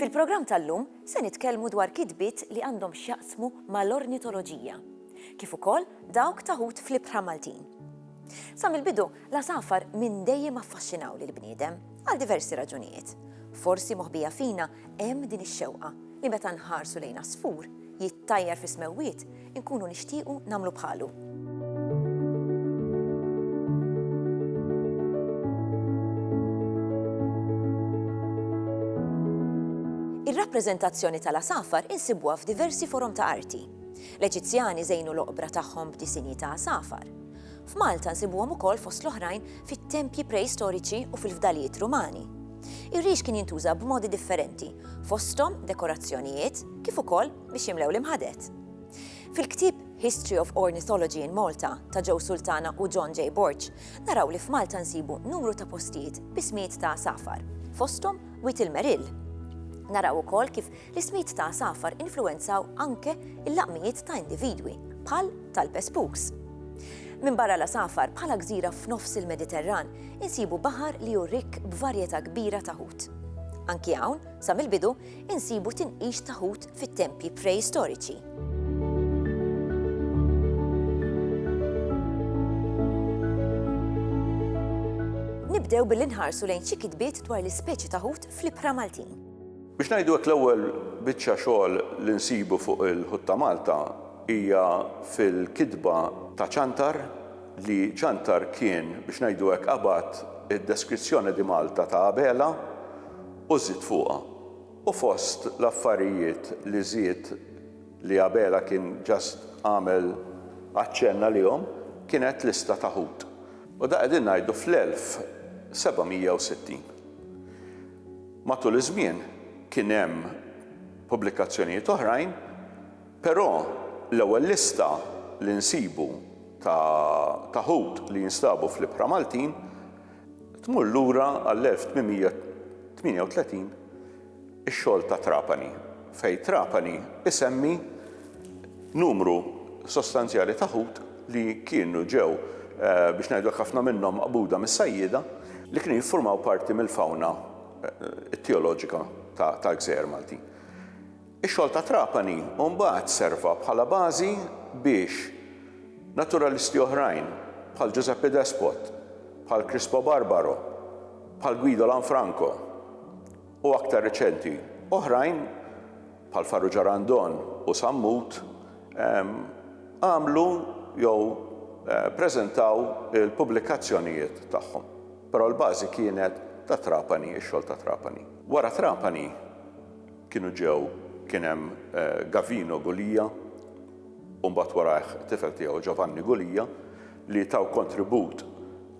Fil-programm tal-lum se nitkellmu dwar kitbiet li għandhom x'jaqsmu mal-ornitoloġija, kif ukoll dawk taħut fl-ibħra Maltin. Sa mill-bidu L-għasafar minn dejjem affaxxinaw lill-bniedem, għal diversi raġunijiet. Forsi moħbija fina hemm din ix-xewqa li meta nħarsu lejn għasfur jittajjar fis-smewwiet inkunu nixtiequ nagħmlu bħalu. Ir-rappreżentazzjoni tal-għasafar insibuha f'diversi forom ta' arti. L-Eġizzjani żejnu l-oqbra tagħhom b'disinji ta' għasafar. F'Malta nsibuhom ukoll fost l-oħrajn fit-tempji preistoriċi u fil-fdalijiet Rumani. Ir-rix kien jintuża b'modi differenti, fosthom dekorazzjonijiet kif ukoll biex jimlew l-imħadet. Fil-ktieb History of Ornithology in Malta ta' Joe Sultana u John J. Borg, naraw li f'Malta nsibu numru ta' postijiet b'ismijiet ta' għasafar, fosthom Wied il-Merill. Naraw ukoll kif L-ismijiet ta' għasafar influwenzaw anke l-laqmijiet ta' individwi, bħal talpe spooks. Minbarra l-għasafar, bħala gżira f'nofs il-Mediterran, insibu baħar li hu rikk b'varjetà kbira ta' ħut. Anki hawn, sa mill-bidu, insibu tinqix ta' ħut fit-tempji preistoriċi. Nibdew billi nħarsu lejn xi kitbiet dwar l-ispeċi ta' ħut fl-ibħra Maltin. Biex ngħidu hekk l-ewwel biċċa xogħol li nsibu fuq il-Ħut ta' Malta hija fil-kitba ta' Ċantar li Ċantar kien biex ngħidu hekk qabad id-Descrizione di Malta ta' Abela u żied fuqha. U fost l-affarijiet li żied li Abela kien just għamel aċċenn għalihom kienet lista ta' ħut. U da qegħdin ngħidu fl-1760. Matul iż-żmien kien hemm pubblikazzjonijiet oħrajn, però l-ewwel lista li nsibu ta' ta' ħut li jinstabu fl-ibħra Maltin tmur lura għall-1838 ix-xogħol ta' Trapani fejn Trapani isemmi Numru sostanzjali ta' ħut li kienu ġew, biex ngħidu hekk ħafna minnhom maqbuda mis-sajjieda, li kienu jiffurmaw parti mill-fawna tijoloġika tal-gżejjer Maltin. Ix-xogħol ta' Trapani mbagħad serva bħala bażi biex naturalisti oħrajn bħal Giuseppe Despot, bħal Crispo Barbaro, bħal Guido Lanfranco, u aktar riċenti oħrajn, bħal Farrugia Randon u Sammut, għamlu jew preżentaw il-pubblikazzjonijiet tagħhom. Però l-bażi kienet ta' Trapani, ix-xogħol ta' Trapani. Wara Trapani kienu ġew, kien hemm Gavino Gulia u mbagħad warajh it-tifel tiegħu Giovanni Gulia li taw kontribut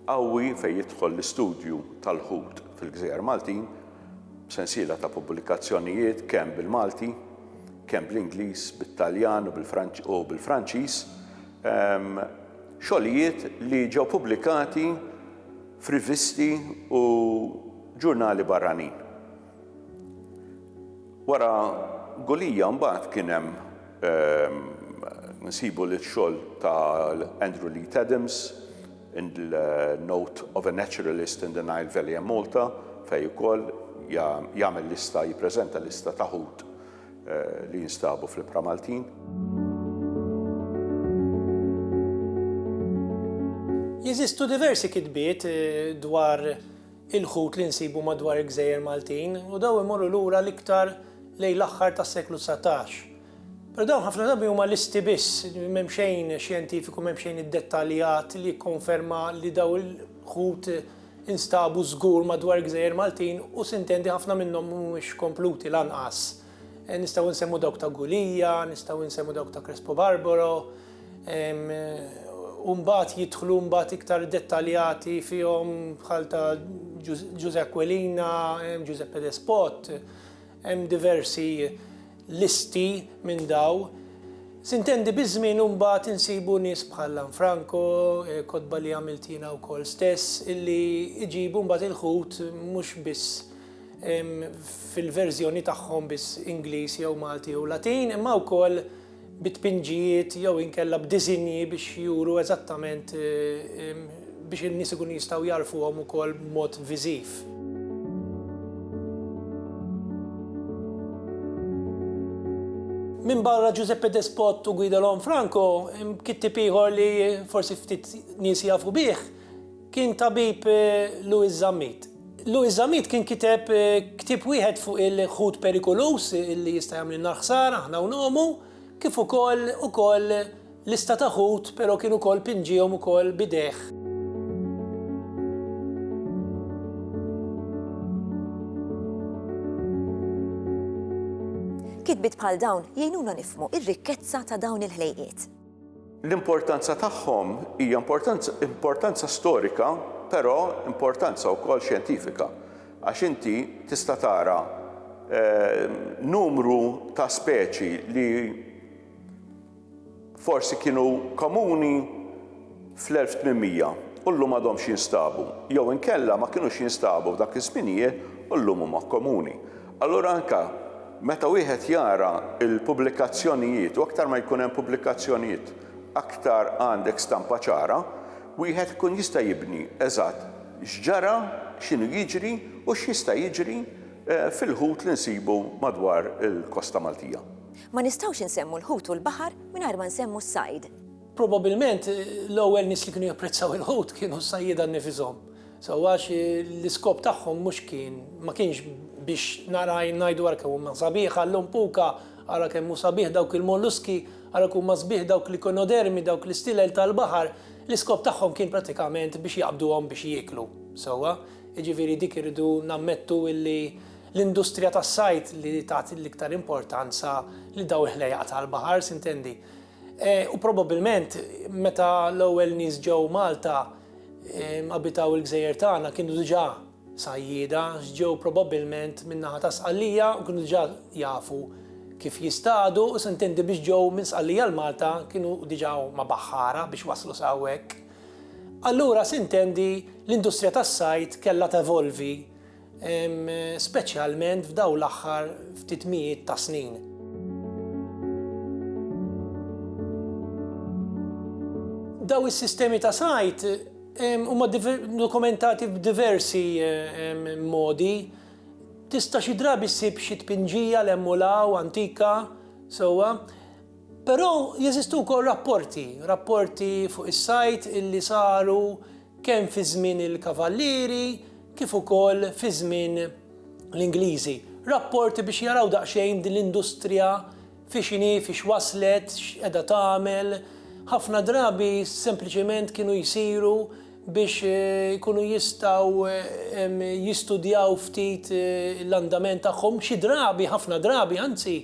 qawwi fejn jidħol l-istudju tal-ħut fil-gżejjer Maltin b'sensiela ta' pubblikazzjonijiet kemm bil-Malti, kemm bl-Ingliż, bit-Taljan u bil-Franċiż, xogħlijiet li ġew pubblikati f'rivisti u ġurnali barranin. Wara Gulia mbagħad kien hemm nsibu l-xogħol ta' Andrew Leith Adams, In the note of a naturalist in the Nile Valley and Malta fejn ukoll jagħmel lista, jippreżenta lista ta' ħut li jinstabu fl-ibħra Maltin. Jeżistu diversi kitbiet dwar il-ħut li nsibu madwar il-gżejjer Maltin u dawn imorru lura l-iktar lejn l-aħħar tas-seklu dsatax. Però dawn ħafna drabi huma listi biss, m'hemm xejn xjentifiku, m'hemm xejn iddettaljat li jikkonferma li dawn il-ħut instabu żgur madwar il-gżejjer Maltin u sintendi ħafna minnhom mhumiex kompluti lanqas. Nistgħu nsemmu dawk ta' Gulia, nistgħu nsemmu dawk ta' Crespo Barbaro, u mbagħad jidħlu mbagħad iktar dettaljati fihom bħal ta' Ġużè Aquilina, Giuseppe Despot, hemm diversi listi minn daw. Sintendi biż-żmien u mbagħad insibu nies bħal Lanfranco, kotba li għamilt jiena wkoll stess, illi jġibu mbagħad il-ħut mhux biss fil-verżjoni tagħhom biss Ingliż jew Malti jew Latin, imma wkoll bi tpinġijiet jew inkella b'diżinji biex juru eżattament biex in-nies ikunu jistgħu jagħrfuhom ukoll b'mod viżiv. Minbarra Giuseppe Despot u Guido Lanfranco, kittieb ieħor li forsi ftit nies jafu bih kien tabib Louis Zammit. Louis Zammit kien kiteb ktieb wieħed fuq il-ħut perikoluż li jista' jagħmlilna l-ħsara aħna u ngħomu, kif ukoll ukoll lista ta' ħut però kien ukoll pinġiehom ukoll b'idejh. Kitbiet bħal dawn jgħinuna nifhmu r-rikkezza ta' dawn il-ħlejqiet. L-importanza tagħhom hija importanza importanza storika però importanza wkoll xjentifika għax inti tista' tara numru ta' speċi li forsi kienu komuni fl-1800 u llum għadhomx jinstabu, jew inkella ma kinux jinstabu f'dak iż-żminijiet u llum huma komuni. Allura anke meta wieħed jara l-pubblikazzjonijiet u aktar ma jkun hemm pubblikazzjonijiet aktar għandek stampa ċara, wieħed ikun jista' jibni eżatt x'ġara, x'inhu jiġri u x'jista' jiġri fil-ħut li nsibu madwar il-kosta Maltija. Ma nistgħux insemmu l-ħut u l-baħar mingħajr ma nsemmu s-sajd. Probabilment l-ewwel nies li kienu japprezzaw il-ħut kienu s-sajjieda nnifishom. Sewwa għax l-iskop tagħhom mhux kien, ma kienx biex nara għajn ngħidu ara kemm huma sabiħ, allum puka, ara kemm hu sabiħ dawk il-molluski, ara kemm huma sbieħ dawk l-ikinodermi, dawk l-istilel tal-baħar, l-iskop tagħhom kien prattikament biex jaqbduhom biex jieklu. Sewwa? Jiġifieri dik irridu nammettu li l-industrija tas-sajd li tat l-iktar importanza lil dawn il-ħlejjaq tal-baħar, sintendi? U probabbilment meta l-ewwel nies ġew Malta abitaw il-gżejjer tagħna kienu diġà sajjieda għax ġew probabbilment min-naħa ta' Sqallija u kienu diġà jafu kif jistadu u s'intendi biex ġew minn Sqallija l-Malta kienu diġà huma baħħara biex waslu sa hawnhekk. Allura s'intendi l-industrija tas-sajd kellha tevolvi speċjalment f'dawn l-aħħar ftit mijiet ta' snin. Daw is-sistemi ta' sajt huma dokumentati b'diversi modi. Tista' xi drabi ssib xi tpinġija l hemm u law antika sewwa. Però jeżistu wkoll rapporti, rapporti fuq is-sajt illi saru kemm fi żmien il-Kavallieri kif ukoll fi żmien l-Ingliżi. Rapporti biex jaraw daqsxejn din l-industrija fiex inhi, fiex waslet, x'qiegħda tagħmel. Ħafna drabi sempliċement kienu jsiru biex ikunu jistgħu jistudjaw ftit l-andament tagħhom, xi drabi, ħafna drabi anzi,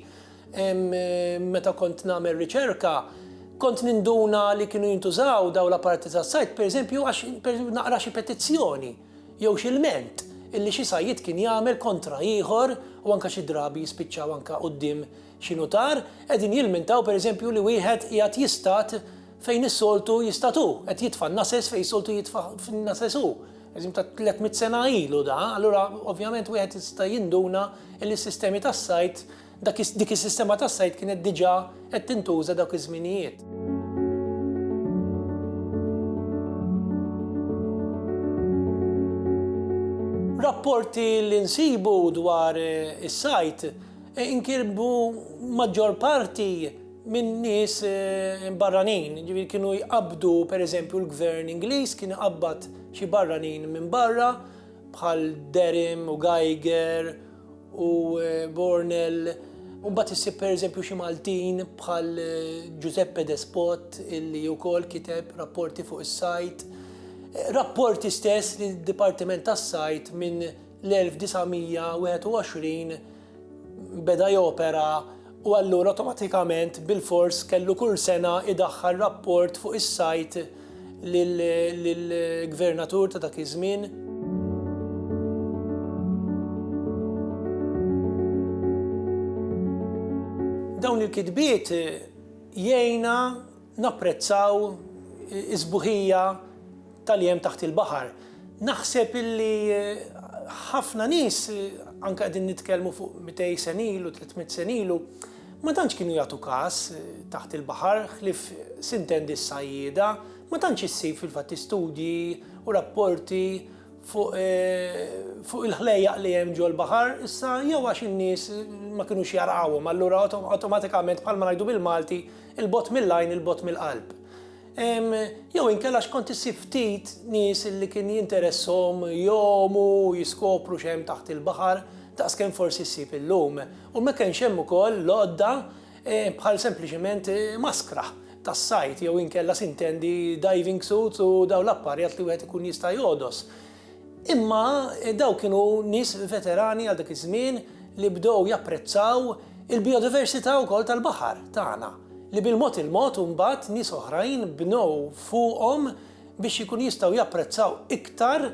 Meta kont nagħmel riċerka, kont ninduna li kienu jintużaw daw l-apparati tas-sajd, pereżempju għax naqra xi petizzjoni jew xi lment illi xi sajjied kien jagħmel kontra ieħor u anke xi drabi jispiċċaw anke quddiem xi nutar qegħdin jilmentaw pereżempju li wieħed qiegħed jistad fejn is-soltu jistad hu, qed jitfa' n-nases fejn is-soltu jitfa' n-nases hu. Eżim ta' 300 sena ilu da, allura ovvjament wieħed jista' jinduna li s-sistemi tas-sajd Dak is, dik is-sistema tas-sajd kienet diġà qed tintuża dawk iż-żminijiet. Rapporti li nsibu dwar is-sajd inkirbu maġġor parti minn nies barranin, jiġifieri kienu jqabbdu pereżempju l-Gvern Ingliż kien iqabbad xi barranin minn barra bħal Derham u Geiger, u Bornel Umbat issib per eżempju xi Maltin bħal eh, Giuseppe Despot illi wkoll kiteb rapporti fuq is-sajt. Eh, rapporti stess li d-Dipartiment tas-Sajt minn l-1921 beda jopera u allura awtomatikament bilfors kellu kull sena jdaħħal rapport fuq is-sajt lill-gvernatur ta' dak iż-żmien. Dawn il-kitbiet jgħinna Napprezzaw is-sbuħija ta' li hemm taħt il-baħar. Naħseb illi ħafna nies, anke qegħdin nitkellmu fuq mitej sen ilu, tliet mitt sen ilu, ma tantx kienu jagħtu kas taħt il-baħar ħlief sintendi s-sajjieda. Ma tantx issib fil-fatt istudji u rapporti fuq fuq il-ħlejjaq li hemm ġol-baħar. Issa jew għax in-nies ma kinux jarqawhom allura awtomatikament bħalma ngħidu bil-Malti 'il bogħod mill-għajn 'il bogħod mill-qalb. Jew inkella x'kont issib ftit nies li kien jinteresshom jgħumu u jiskopru x'hemm taħt il-baħar daqs kemm forsi ssib illum. U ma kenx hemm ukoll l-għodda bħal sempliċement maskra tas-sajd jew inkella sintendi diving suits u dawn l-apparjat li wieħed ikun jista' jogħdos. Imma dawn kienu nies veterani għal dak iż-żmien li bdew japprezzaw il-bijodiversità wkoll tal-baħar tagħna, li bil-mod il-mod imbagħad nies oħrajn bnew fuqhom biex ikunu jistgħu japprezzaw iktar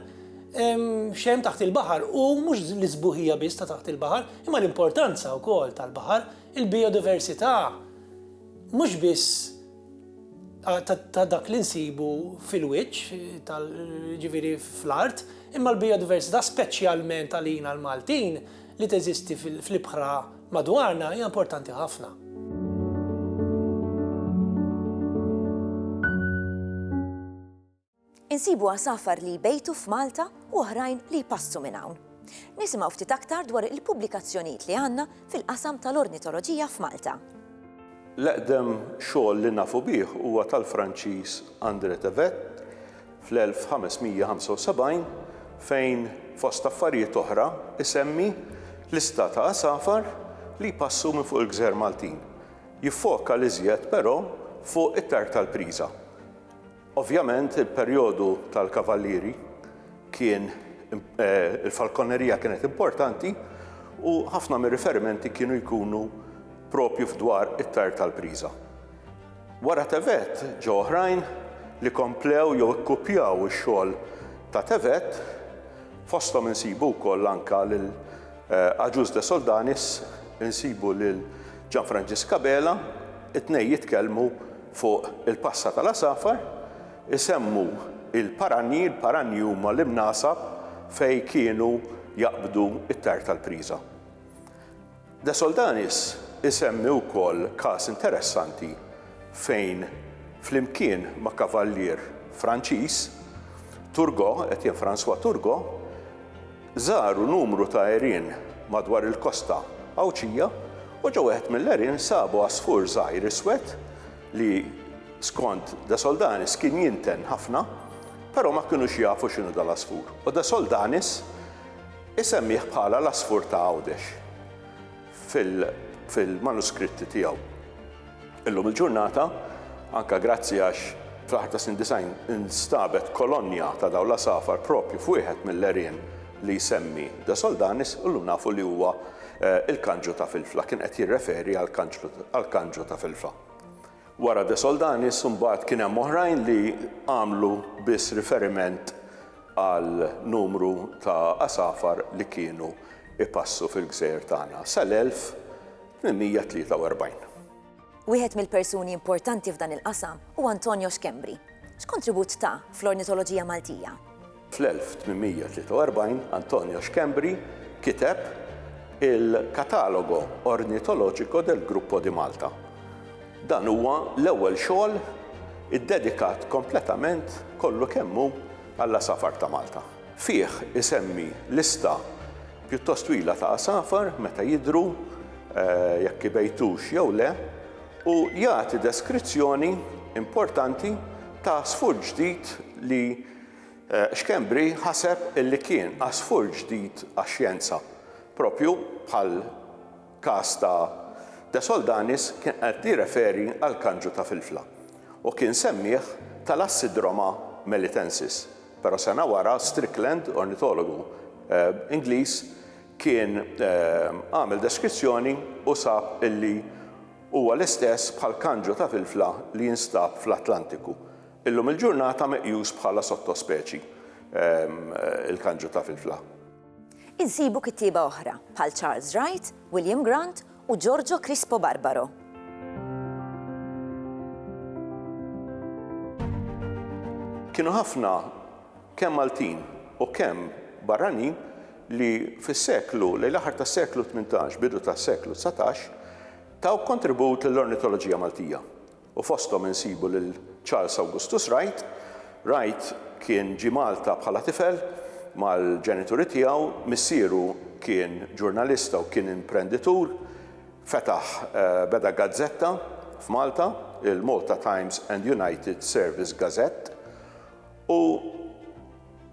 x'hemm taħt il-baħar u mhux l-isbuħija biss ta' taħt il-baħar, imma l-importanza wkoll tal-baħar, il-bijodiversità mhux biss ta' dak li nsibu fil-wiċċ, jiġifieri fl-art, imma l-bijodiversità speċjalment għalina l-Maltin li teżisti fl-ibħra madwarna hija importanti ħafna. Insibu għasafar li jbejtu f'Malta u oħrajn li jpassu minn hawn. Nisimgħu ftit aktar dwar il-pubblikazzjonijiet li għandna fil-qasam tal-ornitoloġija f'Malta. L-eqdem xogħol li nafu bih huwa tal-Franċiż André Tevet fl-1575 fejn, fost affarijiet oħra, isemmi lista ta' għasafar li jpassu minn fuq il-gżejjer Maltin. Jiffoka l-iżjed, però, fuq it-tartar priża. Ovvjament il-perjodu tal-Kavallieri kien il-falkonerija kienet importanti u ħafna mir-riferimenti kienu jkunu proprju f'dwar it-tajr tal-priża. Wara Tevet ġew oħrajn li komplew jew ikkupjaw ix-xogħol ta' Tevet, fosthom insibu wkoll anke lil Agius de Soldanis, insibu lil Gianfrangisca Bela, it-tnejn jitkellmu Fuq il-passa tal-għasafar isemmu l-paranji, l-paranji huma l-imnasab fejn kienu jaqbdu t-tajr tal-priża. De Soldanis isemmi wkoll każ interessanti fejn flimkien ma' kavallier Franċiż, Turgot, Etienne François Turgot, Żaru numru ta' għerien madwar il-kosta Għawdxija u ġo wieħed mill-għerien sabu għasfur żgħir iswed li, skont De Soldanis, kien jinten ħafna, però ma kinux jafu x'inhu dal-għasfur u De Soldanis isemmih bħala l-għasfur ta' Għawdex fil-manuskritti tiegħu. Illum il-ġurnata, anke grazzi għax fl-aħħar tas-snin 90 instabet kolonja ta' dawn l-għasafar proprju f'wieħed mill-għerien li jsemmi De Soldanis, illum nafu li huwa il-kanġu ta' Filfla. Kien qed jirreferi għall-kanġu ta' Filfla. Wara De Soldanis imbagħad kien hemm oħrajn li għamlu biss riferiment għal numru ta' għasafar li kienu jpassu fil-gżejjer tagħna sal-1000 843. Wieħed mill-persuni importanti f'dan il-qasam hu Antonio Schembri. X'kontribut ta fl-ornitoloġija Maltija? Fl-1843 Antonio Schembri kiteb il-Catalogo Ornitologico del Gruppo di Malta. Dan huwa l-ewwel xogħol iddedikat kompletament kollu kemm hu għall-għasafar ta' Malta. Fih isemmi lista pjuttost twila ta' għasafar meta jidhru, jekk ibejtux jew le, u jagħti deskrizzjoni importanti ta' għasfur ġdid li Schembri ħaseb li kien għasfur ġdid għax-xjenza, proprju bħal Każ ta' De Soldanis kien qed jirreferi għall-kanġu ta' filfla u kien semmieh Thalassidroma melitensis, però sena wara Strickland, ornitologu Ingliż, kien għamel deskrizzjoni u sab illi huwa l-istess bħall-kanġu ta' filfla li jinstab fl-Atlantiku. Illum il-ġurnata meqjus bħala sottospeċi il-kanġu ta' filfla. Insibu kittieba oħra, bħal Charles Wright, William Grant u Giorgio Crispo Barbaro. Kienu ħafna kemm Maltin u kemm barranin li fis-seklu, lejn l-aħħar tas-seklu 18, bidu tas-seklu 19, taw kontribut lill-ornitoloġija Maltija. u fosthom insibu lil Charles Augustus Wright. Wright kien ġie Malta bħala tifel mal-ġenituri tiegħu. Missieru kien ġurnalista u kien imprenditur. Fetaħ, beda gazzetta f'Malta, il-Malta Times and United Service Gazette, u.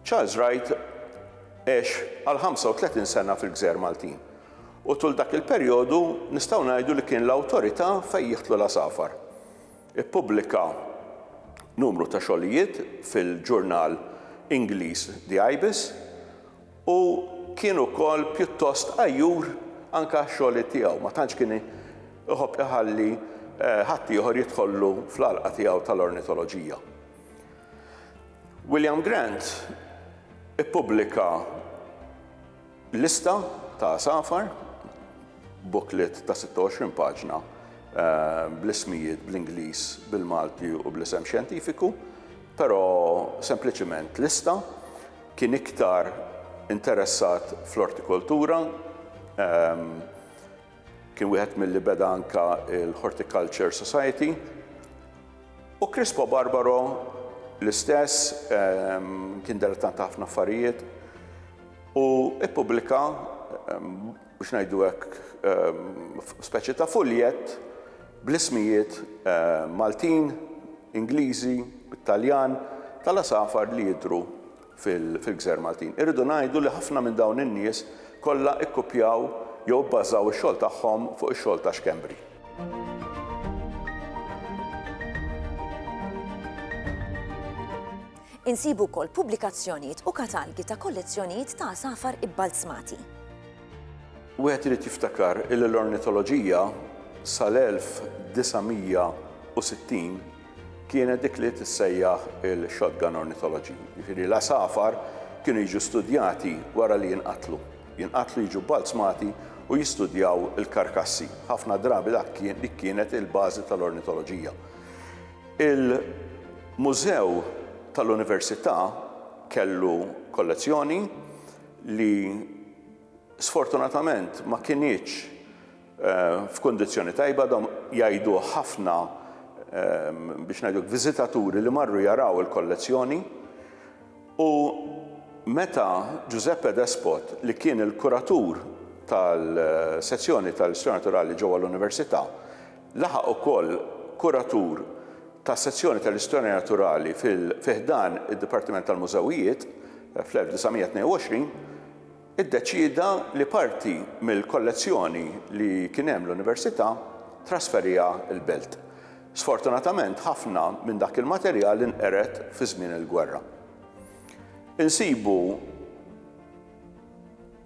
Charles Wright għex għal 35 sena fil-Gżejjer Maltin u tul dak il-perjodu nistgħu ngħidu li kien l-awtorità fejn jidħlu l-għasafar. Ippubblika numru ta' xogħlijiet fil-ġurnal Ingliż The Ibis u kien ukoll pjuttost għajjur anke għax-xogħliet tiegħu, ma tantx kien iħobb iħalli ħaddieħor jidħollu fl-għalqa tiegħu tal-ornitoloġija. William Grant ippubblika lista ta' safar, booklet ta' 26 paġna eh, bl-ismijiet bl-Ingliż, bil-Malti u bl-isem xjentifiku, però sempliċiment lista kien iktar interessat fl-ortikoltura ehm, Kien wieħed milli beda anke l-Horticulture Society u Crispo Barbaro l-istess kien dilettant ta' ħafna affarijiet u ppubblika biex ngħidu hekk speċi ta' fuljett bl-ismijiet Maltin, Ingliżi, bit-Taljan tal-għasafar li jidhru fil-gżejjer Maltin. Irridu ngħidu li ħafna minn dawn in-nies kollha ikkupjaw jew ibbażaw ix-xogħol tagħhom fuq ix-xogħol ta' Schembri. Insibu wkoll pubblikazzjonijiet u katalgi ta' kollezzjonijiet ta' għasafar ibbalzmati. Wieħed irid jiftakar illi l-ornitoloġija sal-1960 kienet dik li tissejjaħ il-shotgun ornithology, jiġifieri l-għasafar kienu jiġu studjati wara li jinqatlu. Jinqatlu jiġu bbalzmati u jistudjaw il-karkassi. Ħafna drabi dak kien dik kienet il-bażi tal-ornitoloġija. Il-mużew tal-università kellu kollezzjoni li sfortunatament ma kinitx f'kundizzjoni tajba, dan jgħiduh ħafna biex ngħidlek viżitaturi li marru jaraw il-kollezzjoni u meta Giuseppe Despot li kien il-kuratur tal-sezzjoni tal-Istorja Naturali ġewwa l-Università laħaq ukoll kuratur tas-sezzjoni tal-Istorja Naturali fi ħdan id-Dipartiment tal-Mużewijiet fl-1922, iddeċieda li parti mill-kollezzjoni li kien hemm l-Università trasferiha l-Belt. Sfortunatament ħafna minn dak il-materjal inqered fi żmien il-gwerra. Insibu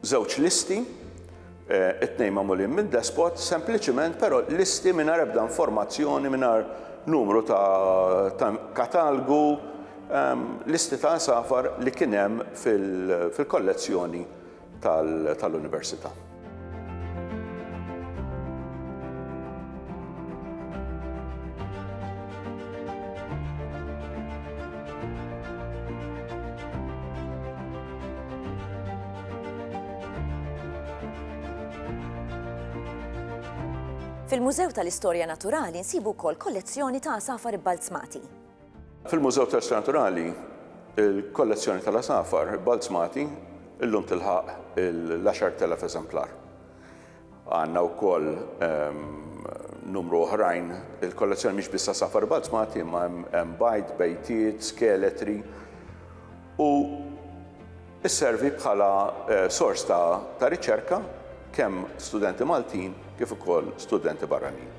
żewġ listi, it-tnejn magħmulin minn despot, sempliċiment però listi mingħajr ebda informazzjoni, mingħajr numru ta' katalgu, listi ta' għasafar li kien hemm fil-kollezzjoni tal-Università. Fil-Mużew tal-Istorja Naturali nsibu wkoll kollezzjoni ta' għasafar ibbalzmati. Fil-Mużew tas-Xjenzi Naturali, il-kollezzjoni tal-għasafar ibbalzmati illum tilħaq l-10,000 eżemplar. Għandna wkoll numru oħrajn, il-kollezzjoni mhix biss għasafar ibbalzmati imma hemm bajd, bejtiet, skeletri u sservi bħala sors ta' riċerka kemm studenti Maltin kif ukoll studenti barranin.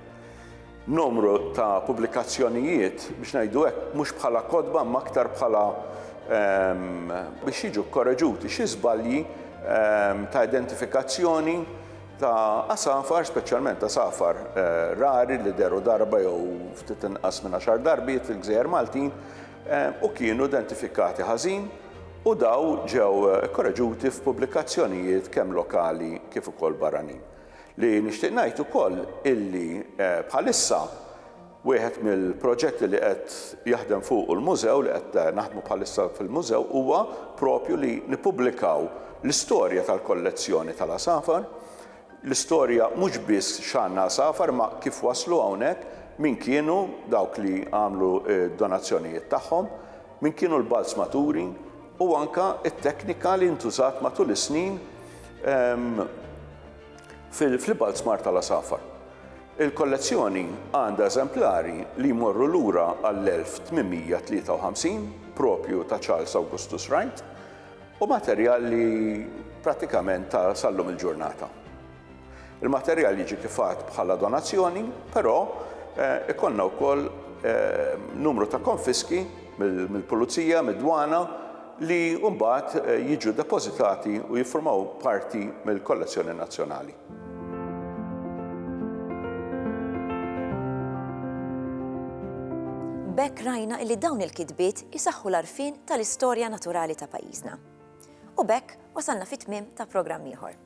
numru ta' pubblikazzjonijiet, biex ngħidu hekk, mhux bħala kotba imma aktar bħala biex jiġu kkoreġuti xi żbalji ta' identifikazzjoni ta' għasafar, speċjalment għasafar rari li deru darba jew ftit inqas minn għaxar darbiet fil-gżejjer Maltin u kienu identifikati ħażin u daw ġew kkoreġuti f'pubblikazzjonijiet kemm lokali kif ukoll barranin. Li nixtieq ngħid ukoll illi bħalissa wieħed mill-proġetti li qed jaħdem fuqu l-Mużew, li qed naħdmu bħalissa fil-Mużew huwa propju li nippubblikaw l-istorja tal-kollezzjoni tal-għasafar, l-istorja mhux biss x'għandna għasafar imma kif waslu hawnhekk, min kienu dawk li għamlu d-donazzjonijiet tagħhom, min kienu l-balzmaturi, u anke t-teknika li ntużat matul is-snin fil-Belt Smart tal-Għasafar. Il-kollezzjoni għandha eżemplari li jmorru lura għall-1853, proprju ta' Charles Augustus Wright, u materjal li prattikament ta' sal-lum il-ġurnata. Il-materjal jiġi tifgħat bħala donazzjoni, però ikollna wkoll numru ta' konfiski mill-pulizija, mid-dwana li mbagħad jiġu depożitati u jiffurmaw parti mill-kollezzjoni nazzjonali. B'hekk rajna illi dawn il-kitbiet isaħħu l-għarfien tal-istorja naturali ta' pajjiżna. U b'hekk wasalna fit-tmiem ta' programm ieħor.